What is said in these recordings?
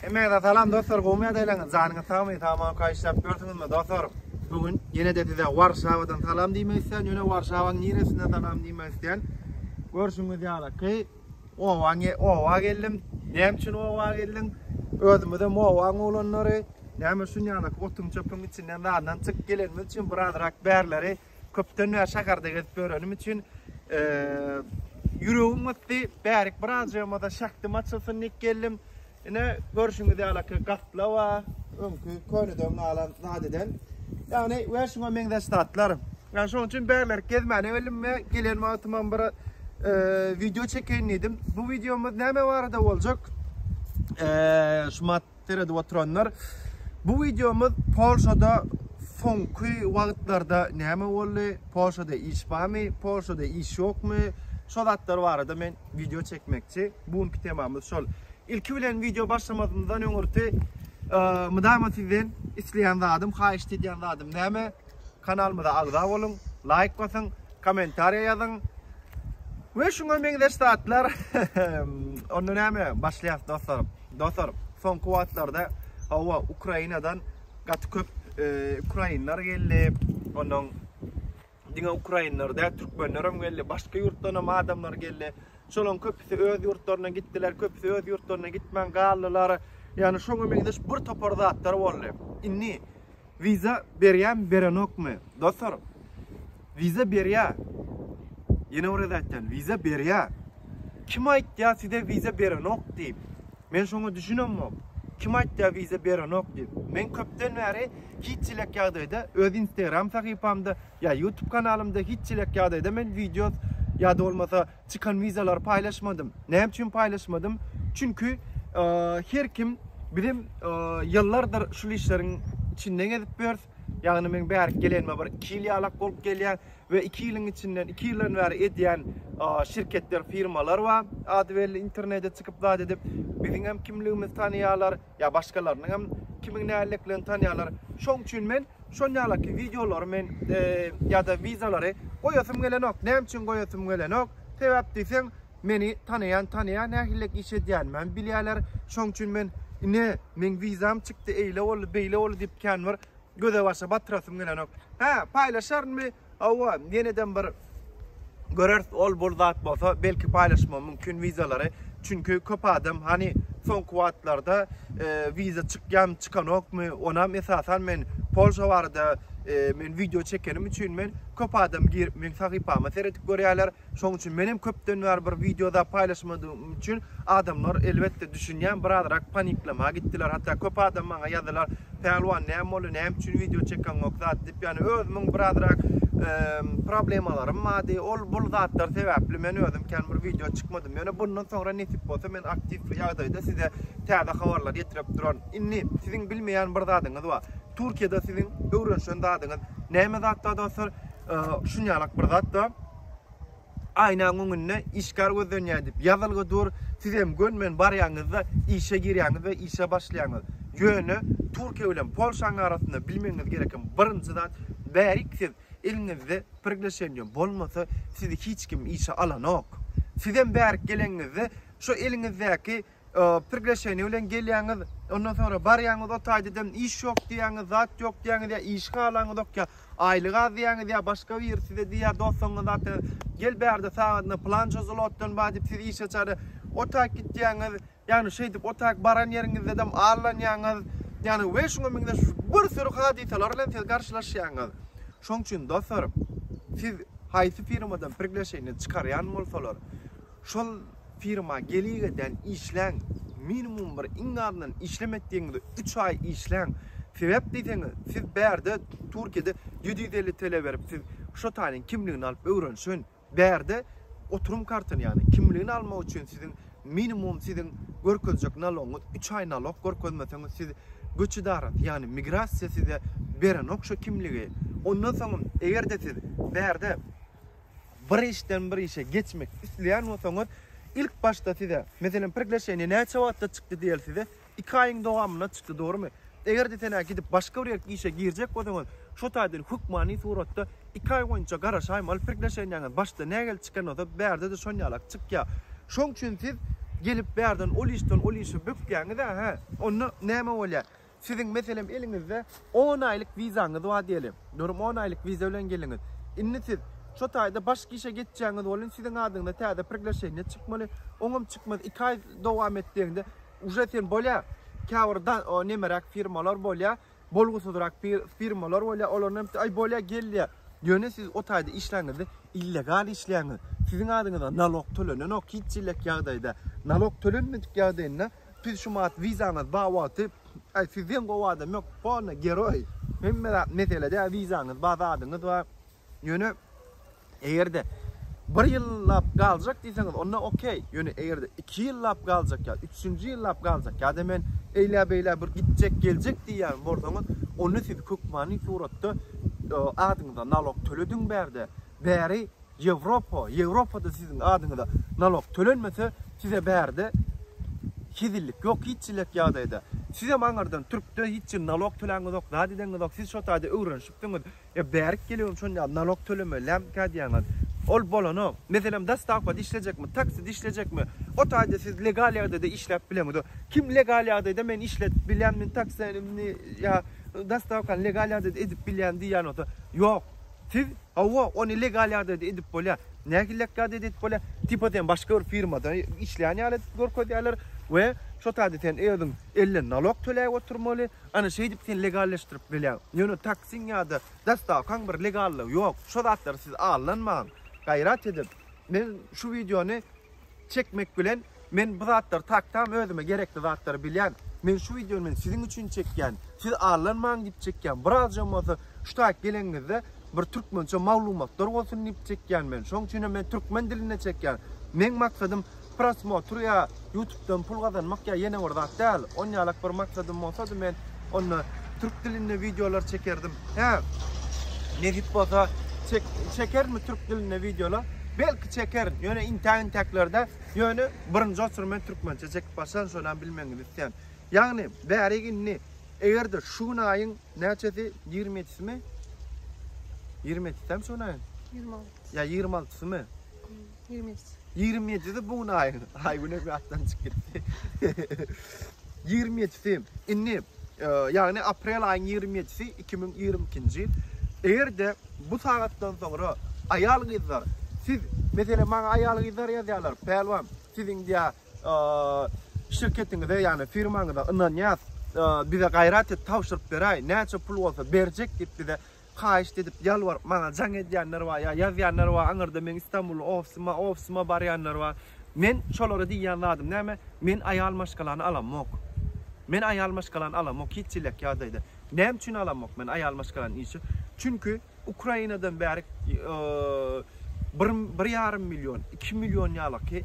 Hemmäňize salam dostlar gowmy ýagdaýlaryňyz janyňyz sagmy saman kaýyşlap ýörsüňizmi dostlar bu gün ýene-de size Warşawadan salam diýmek isleýän ýöne Warşawaň niresinden salam diýmek isleýän görşüňiz ýaly ki owa owa geldim näme üçin owa geldim özümize owaň oglanlary näme üçin ýaly otuň çöpüň içinden zadyndan çyk gelenimiz üçin birazrak bärleri Köpden bäri şäherde gezip ýörenim üçin ýüregim gysdy. Bärik birazjygymda şähdim açylsyn diýip geldim. Ine görşüňiz ýaly gaplawa, öňki köneden galan zadeden. Ýagny we şuňa meňzeş zatlar. Ýagny şonuň üçin bärik gezmäne geldim we gelen wagtymam bir video çekeýin diýdim. Bu videomyz näme barada boljak? Şumat Seredip oturanlar bu wideomyz Polşada soňky wagtlarda näme boldy? Polşada iş barmy? Polşada iş ýokmy? Şo zatlar barada men wideo çekmekçi. Bu günki temamyz şol. Ilki bilen wideo başlamazymyzdan öňürti mydama sizden isleýän zadym, haýyşt edýän zadym näme? Kanalymyza agza boluň, laýk basyň, kommentariýa ýazyň. We şuňa meňzeş zatlar. Onda näme? Başlaýas dostlarym. Dostlar, soňky wagtlarda hawa Ukrainadan gaty köp ukrainler geldi. Ondan diňe ukrainler däl, türkmenler hem geldi, başga ýurtdan hem adamlar geldi. Şolaryň köpüsi öz ýurtlaryna gitdiler, köpüsi öz ýurtlaryna gitmän galdylar. Ýagny şoňa meňzeş bir topar zatlar boldy. Indi Wiza berýämi berenokmy dosar wiza berýä ýene bir gezek aýtýan wiza berýä kim aýtýa size wiza berenok diýip men şoňa düşünemok kim aýtýa wiza berenok diýip men köpden bäri hiç elek ýagdaýda öz instagram sahypamda ýa ýutub kanalymda hiç elek ýagdaýda men wideo ýa-da bolmasa Çykan wizalary paýlaşmadym. Näme üçin paýlaşmadym? Çünki her kim bizem ýyllardyr şul işleriň içinde gezip ýörüs. Ýagny men bärik gelenime bir 2 ýyl ýalak bolup gelýär we 2 ýylyň içinden 2 ýyldan bäri edýän şirketler, firmalar bar. Ady belli internete çykyp zat edip, biziňem kimligimizi tanaýarlar. Ýa başgalarynyň hem kimiň näleliklerini tanýarlar. Şoň üçin men şonýalaky wideolary men ýa-da wizalary goýasym gelenok. Näme üçin goýasym gelenok? Sebäp diýseň, meni tanaýan tanaýar, nähililik iş edýänimi bilýärler. Şoň üçin men ine, meň wizam çykdy, eýle boldy, beýle boldy diýip känbir göze-başa batyrasym gelenok. Hä, paýlaşarynmy? Hawa, ýeneden bir göreris ol bul zat bolsa belki paýlaşmam mümkin wizalary, çünki köp adam hany soňky wagtlarda wiza çykýamy çykanokmy, onam esasan men Polşa barada men wideo çekenim üçin men köp adam girip meň sahypama seredip görýärler, Şoň üçin menem köpden bäri bir wideoda paýlaşmadygym üçin adamlar elbetde düşünýän birazrak paniklama gitdiler hatda köp adam maňa ýazylar Pälwan näme boldy näme üçin wideo çekeňok zat diýip ýagny özümiň birazrak problemalarym bardy ol bul zatlar sebäpli men özüm kän bir wideo çykmadym ýöne bundan soňra nesip bolsa men aktiw ýagdaýda size täze habarlar ýetirip duran indi siziň bilmeýän bir zadyňyz bar Türkiýede siziň öwrenişen zadyňyz näme zatda dostlar? Şunýalak bir zatda aýnaň öňünde işgär gözlenýär diýip ýazylgy dur. Siz hem gönmen barýaňyzda işe girýäňiz we işe başlaýaňyz. Ýöne Türkiýe bilen Polşanyň arasynda bilmegiňiz gereken birinji zat, bärik siz eliňizde priglaşeniýe bolmasa, sizi hiç kim işe alanok. Siz hem bärik gelenňizde şu eliňizdäki priglaşeniýe bilen gelýäňiz, ondan soňra barýaňyz o taýda dem iş ýok diýýäňiz, zat ýok diýýäňiz ýa işi halaňyzok ýa aýlyk az diýýäňiz ýa başga biri size diýýär dostuňyz zat gel bärde sagadyna plança zlotdan bar diýip sizi işe çagyryp o taýda gitýäňiz. Ýagny şeýdip o taýda baran ýeriňizde dem allanýaňyz. Ýagny we şuňa meňzeş bir sürü hadysalar bilen siz garşylaşýaňyz. Şoň üçin dostlarym, siz haýsy firmadan priglaşeniýe çykarýan bolsalar, Şol firma geligeden işläň, minimum bir iň azyndan işlem etdigiňizde üç aý işläň. Sebäp diýseňiz, siz bärde Türkiýede ýedi ýüz elli TL berip siz şotanyň kimligini alyp öwrenişen. Bärde oturum kartyny ýagny kimligini almak üçin siziň minimum siziň görkezjek nalogyňyz üç aý nalog görkezmeseňiz siz göç edarasy ýagny migrasiýa size berenok şo kimligi. Ondan soňam egerde siz bärde. Bir işden bir işe geçmek isleýän bolsaňyz, ilk başda size, meselem, priglaşeniýe näçe wagtda çykdy diýeli size? Iki aýyň dowamynda çykdy, dogrumy? Eger-de sen-ä gidip başga bir ýerki işe girjek bolsaňyz, şo taýdan hökmany suratda iki aý boýunça garaşaýma, ol priglaşeniýäňiz başda nähili çykan bolsa, bärde-de şon ýalak çykýar. Şoň üçin siz gelip bärden ol işden ol işe bökýäňiz-ä, hä? Onda näme bolýar? Siziň meselem eliňizde on aýlyk wizaňyz bar diýeli. Durum on aýlyk wiza bilen geldiňiz. Indi siz şo taýda başga işe geçjäňiz bolun, siziň adyňyza täze priglaşeniýe çykmaly. Oňam çykmaz. Iki aý dowam et diýende, uje sen bolýa. Käbir da o nemeräk firmalar bolýa, bolgusyzrak firmalar bolýa, olaryň hemsi aý bolýa gel diýýä. Ýöne siz o taýda işläňizde illegal işleýäňiz. Siziň adyňyza nalog tölenenok hiç hillek ýagdaýda. Nalog tölenmedik ýagdaýynda Biz şu maat wizamyz bar wagty aý sizden gowy adam ýok polny geroý hemme zat mesele däl wizaňyz bar zadyňyz bar ýöne egerde bir ýyllap galjak diýseňiz onda okey ýöne egerde iki ýyllap galjak ýa üçünji ýyllap galjak ýada men eýlä beýlä bir gitjek geljek diýýän bolsaňyz onda siz hökmany suratda adyňyza nalog tölediň bärde Bäri Ýewropa, Ýewropada siziň adyňyza nalok tölenmese, size bärde hezillik ýok hiç jilek ýagdaýda. Sizem aňyrdan türkde hiç jil nalok töläňizok, zat edeňizok, siz şo taýda öwrenişipsiňiz. E bärik gelibem şonýa nalok tölemeli lämkä diýäňiz. Ol bolanok. Meselem dostawkada işlejekmi, takside işlejekmi, o taýda siz legal ýagdaýda işläp bileňiz. Kim legal ýagdaýda men işletip bilýän, men taksini ýa dostawkany legal ýagdaýda edip bilýän diýýän bolsa, ýok. Siz hawa ony legal ýagdaýda edip bolýar. Nähili legal ýagdaýda edip bolýar? Tipa sen başga bir firmada işleýän ýaly edip görkezýärler we şo taýda sen özüň elden nalog töläp oturmaly. Ana şeýdip sen legalleşdirip bilýäň. Ýöne taksiň ýa-da dostawkaň bir legallygy ýok. Şo zatlary siz aldanmaň. Gaýrat edip, men şu wideony çekmek bilen men bu zatlary tak tam özüme gerekli zatlary bilýän. Men şu wideony men siziň üçin çekýän. Siz allanmaň diýip çekýän. Birazam bolsa şu taýyp geleniňizde bir türkmençe maglumatlar bolsun diýip çekýän men. Şoň üçin hem men türkmen dilinde çekýän. Meň maksadym prosmotr ýa ýutubdan pul gazanmak ýa ýene bir zat däl. Onýalak bir maksadym bolsady men onda türk dilinde wideolar çekerdim. Hä, nesip bolsa çek, çekermi türk dilinde wideolar? Belki çekerin. Ýöne intäk-intäklerde, ýöne birinji otur men türkmençe çekip başlan, şonam bilmegiňizi isleýän. Ýagny, bärik indi eger-de şu gün aýyň näçesi 27-simi? 27-simi şu gün aýyň? 26. Ýa 26-symy? Ýigrimi ýedi. Ýigrimi ýedisi bu gün aýyň. Aýgünem ýatdan çykyp gitdi. Ýigrimi ýedisi. Indi, e, ýagny aprel aýyň ýigrimi ýedisi iki müň ýigrimi ikinji. Eger-de bu sagatdan soňra aýal-gyzlar, siz, meselem, maňa aýal-gyzlar ýazýarlar, Pälwan, siz indi ýa e, şirketiňize, ýagny firmaňyza ynanýas, e, bize gaýrat et, tabşyryp beräý, näçe pul bolsa berjek diýip bize Haýyşt edip, ýalbaryp maňa jaň edýänler bar, ýa ýazýanlar bar, aňyrda meň Istanbully ofisim-a, ofisim-a barýanlar bar. Men şolara diýýän zadym näme, men aýal maşgalany alamok. Men aýal maşgalany alamok, hiç çilek ýagdaýda. Näme üçin alamok men aýal maşgalany işe? Çünki Ukrainadan bärik bir, bir ýarym million, iki million ýalyky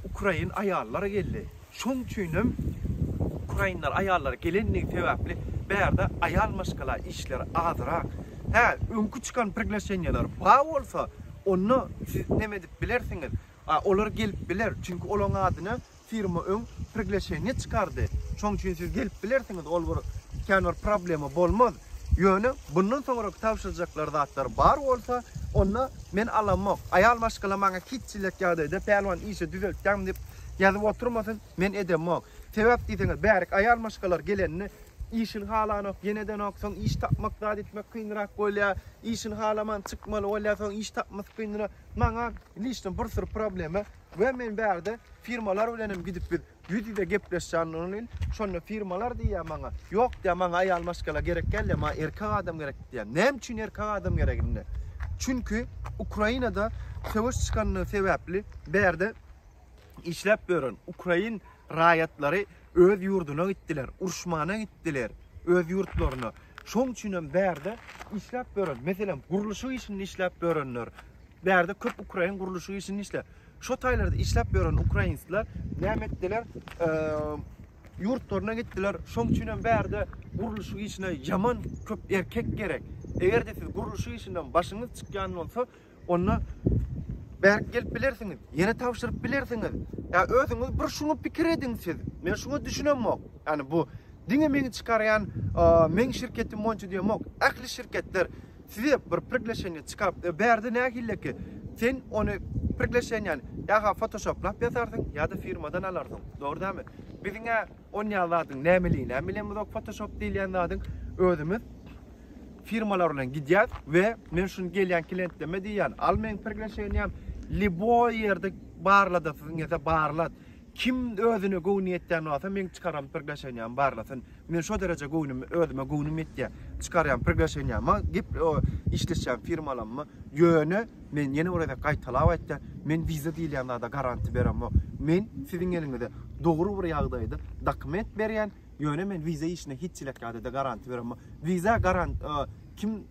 ukrain aýallar geldi. Şoň üçin hem ukrainler aýallary gelendigi sebäpli bärde aýal maşgala işleri azyrak. Hä, öňki çykan priglaşenýeler ba bolsa, onda siz neme edip bilersiňiz? A, olar gelip biler, çünki olaň adyna firma öň priglaşenýe çykardy. Şoň üçin siz gelip bilersiňiz, ol bir kän bir problema bolmaz. Ýöne bundan soňraky tabşyrjaklar zatlar bar bolsa, onda men alamok. Aýal maşgala maňa hiç çilek ýagdaýda Pälwan işe düzeltýäň diýip ýazyp oturmasyn, men edemok. Sebäp diýseňiz, bärik aýal maşgalar gelende işini halanok, ýene edenok, soň iş tapmak zat etmek kynrak bolýar, işini halaman çykmaly bolýar, soň iş tapmasy kynra. Maňa lişno bir syr problema we men bärde firmalar bilenem gidip biz Ýüz-ýüze gepleşýändirin, şonda firmalar diýýär maňa, Ýok diýýär, maňa aýal maşgala gerek däl diýýär, maňa erkek adam gerek diýýär. Näme üçin erkek adam gerek indi? Çünki Ukrainada söweş çykandygy sebäpli bu ýerde işläp ýören ukrain raýatlary öz ýurduna gitdiler, uruşmana gitdiler, öz ýurtlaryna. Şonuň üçin hem bu ýerde işläp ýören, meselem, gurluşyk işinde işläp ýörenler, bu ýerde köp ukrain gurluşyk işinde işleýär. Şo taýlarda işläp ýören ukrainsler näme etdiler? Ýurtlaryna gitdiler. Şoň üçin hem bärde gurluşyk işine ýaman köp erkek gerek. Eger-de siz gurluşyk işinden başyňyz çykýan bolsa, onda bärik gelip bilersiňiz, ýene tabşyryp bilersiňiz. Ýa özüňiz bir şuňa pikir ediň siz. Men şuňa düşünemok. Ýani bu diňe meni çykarýan meň şirketim boýunça diýemok. Ähli şirketler Size bir prigleşeniýe çykap berdi nähilleki sen ony prigleşeniýäni ýa-ha fotoshoplap ýazarsyň ýa-da firmadan alarsyň. Dogry dälmi? Biziň-ä onýa zadyň nämeliginem bilemizok fotoshop diýilýän zadyň. Özümiz firmalar bilen gidýäs we men şuny gelýän klientleme diýýän al meň prigleşeniýäm liboý ýerde barlada siziň ýa-da barlat. Kim özüne göwni ýetýän bolsa meň çykaran priglaşeniýamy barlasyn. Men şo dereje göwnümi özüme göwnüm ýetýä. Çykarýan priglaşeniýama gep işleşýän firmalamma ýöne men ýene bir gezek gaýtalap aýtýan men wiza diýilýän zada garanti beremok. Men siziň eliňize dogry bir ýagdaýda dokument berýän ýöne men wiza işine hiç çilek ýagdaýda garanti beremok. Wiza garant kim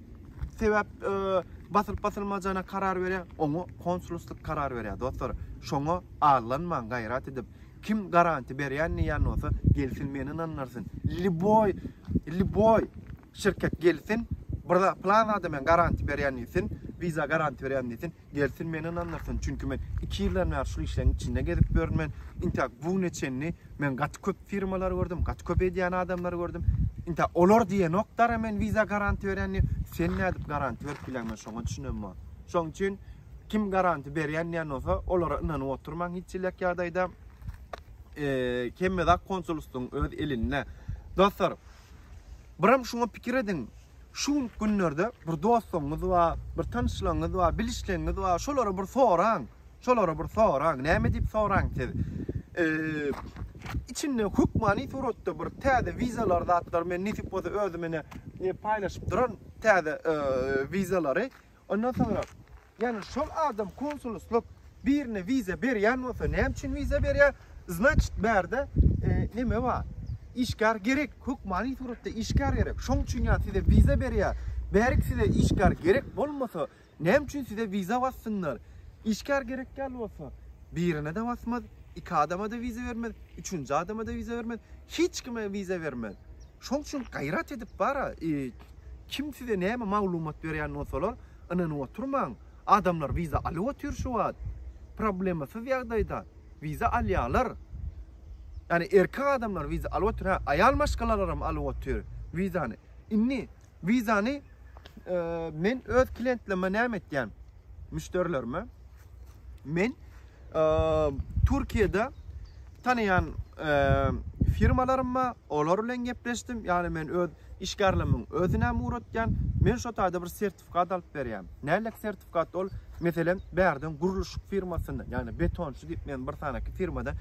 sebäp e, basylyp basylmajana karar berýär, oňa konsulstlyk karar berýär. Dostlar, şoňa allanmaň gaýrat edip, kim garanti berýän diýen bolsa, gelsin meni ynandyrsyn. Liboy, liboy şirket gelsin, bir plan zada men garanti berýän diýsin, wiza garanti berýän diýsin. Gelsin meni ynandyrsyn, çünki men iki ýyldan bäri şul işleň içinde gezip ýörün men. Intä bu güne çenli men gaty köp firmalary gördüm, gaty köp edýän adamlary gördüm. Intä olar diýenok dara men wiza garanti berýän diýip, sen nädip garanti berip bileň men şoňa düşünemok. Şoň üçin kim garanti berýän diýen bolsa olara ynanyp oturmaň hiç ýylak ýagdaýda. Eee hemme zat konsulstwyň öz elinde. Dostlar, biram şuňa pikir ediň. Şu günki günlerde bir dostuňyz bar, bir tanyşlygyňyz bar, bilişligiňiz bar, şolara bir soraň. Şolara bir soraň. Näme diýip soraň siz? Içinde hökmany suratda bir täze wizalar zatlar men nesip bolsa özüm ene paýlaşyp duran täze wizalary Ondan soňra ýani şol adam konsuluslyk birine wiza berýän bolsa näme üçin wiza berýär? Znaçit bärde neme bar? Işgär gerek, hökmany suratda işgär gerek. Şoň üçin ýa size wiza berýär. Bärik size işgär gerek bolmasa näme üçin size wiza bassynlar? Işgär gerek däl bolsa birine-de basmaz, iki adama-da wiza bermez, üçünji adama-da wiza bermez, hiç kime wiza bermez. Şoň üçin gaýrat edip bara Kim size näme maglumat berýän bolsalar, ynanyp oturmaň. Adamlar wiza alyp otyr şu wagt. Problemasyz ýagdaýda. Wiza alýarlar. Ýani erkek adamlar wiza alyp otyr. Hä, aýal maşgalalaram alyp otyr wizany. Indi wizany men öz klientlerime näme etýän? Müşderilerime. Men Türkiýede tanaýan firmalarym bar, olar bilen gepleşdim. Ýagny men öz işgärlerimiň özünem ugratýan. Men şo taýda bir sertifikat alyp berýän. Nälik sertifikat ol? Meselem, bärden gurluşyk firmasyndan, ýagny betonçy diýip men bir sanaky firmadan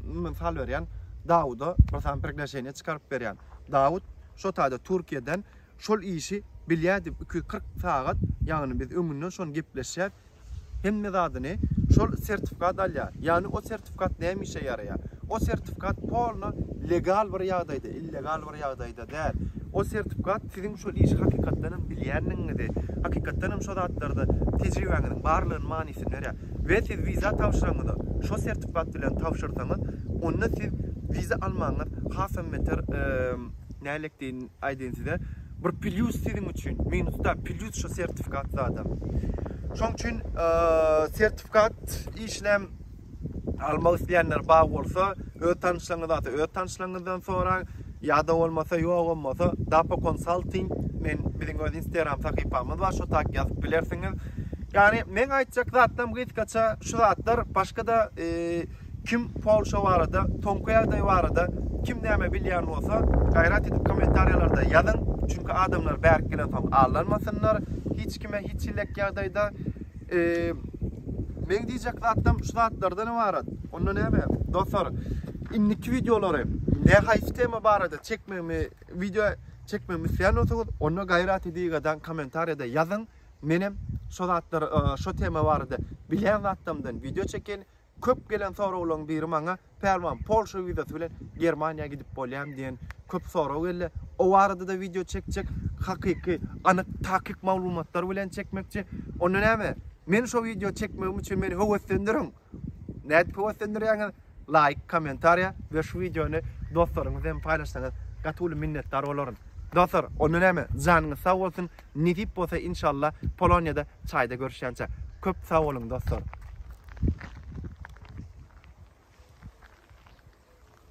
mysal berýän, Dawuda bir sany priglaşeniýe çykaryp berýän. Dawud şo taýda Türkiýeden şol işi bilýär diýip 240 sagat, ýagny biz öňünden şony gepleşýäs. Hemme zadyny şol sertifikat alýar. Ýagny o sertifikat näme işe ýaraýar? O sertifikat polno legal bir ýagdaýda, illegal bir ýagdaýda däl. O sertifikat siziň şol işi hakykatdan hem bilýändigiňizi, hakykatdan hem şo zatlarda tejribäňiziň barlygynyň manysyny berýär. We siz wiza tabşyranyňyzda şo sertifikat bilen tabşyrsaňyz, onda siz wiza almagyňyz hasam beter, nälektn aýdyn size, Bir plýus siziň üçin, minus däl, plýus şu sertifikat zada. Şoň üçin sertifikat işlem almak isleýänler bar bolsa, öz tanyşlaryňyz ata, öz tanyşlaryňyzdan soraň. Ýa-da bolmasa, ýok bolmasa, Dapo Consulting men biziň öz Instagram sahypamyz bar, şo tak ýazyp bilersiňiz. Ýagny men aýtjak zatlarym gysgaça şu zatlar, başga-da Kim Polşa barada, soňky ýagdaý barada kim näme bilýän bolsa, gaýrat edip kommentariýalarda ýazyň, çünki adamlar bärik gelensoň allanmasynlar, hiç kime hiç hillek ýagdaýda Meň diýjek zatym şu zatlardan ybarat. Onda näme? Dostlar, indiki wideolary ne haýsy tema barada çekmegimi, wideo çekmegimi isleýän bolsaňyz, onda gaýraty diýgadan kommentariýada ýazyň. Menem şu zatlar, şu tema barada bilýän zatlarymdan wideo çekin. Köp gelen soraglaryň biri maňa Pälwan Polşa wizasy bilen Germaniýa gidip bolýamy diýen köp sorag geldi. O barada-da wideo çekjek. Hakyky, anyk, takyk maglumatlar bilen çekmekçi. Onda näme? Meni şo wideo çekmegim üçin meni höweslendiriň. Nädip höweslendirýäňiz? Laýk, kommentariýa we şu wideony dostlaryňyz bilen paýlaşsaňyz gaty uly minnetdar bolaryn. Dostlar, onda näme? Janyňyz sag bolsun! Nesip bolsa inşalla Polonyada çaýda görüşýänçä. Köp sag boluň dostlar.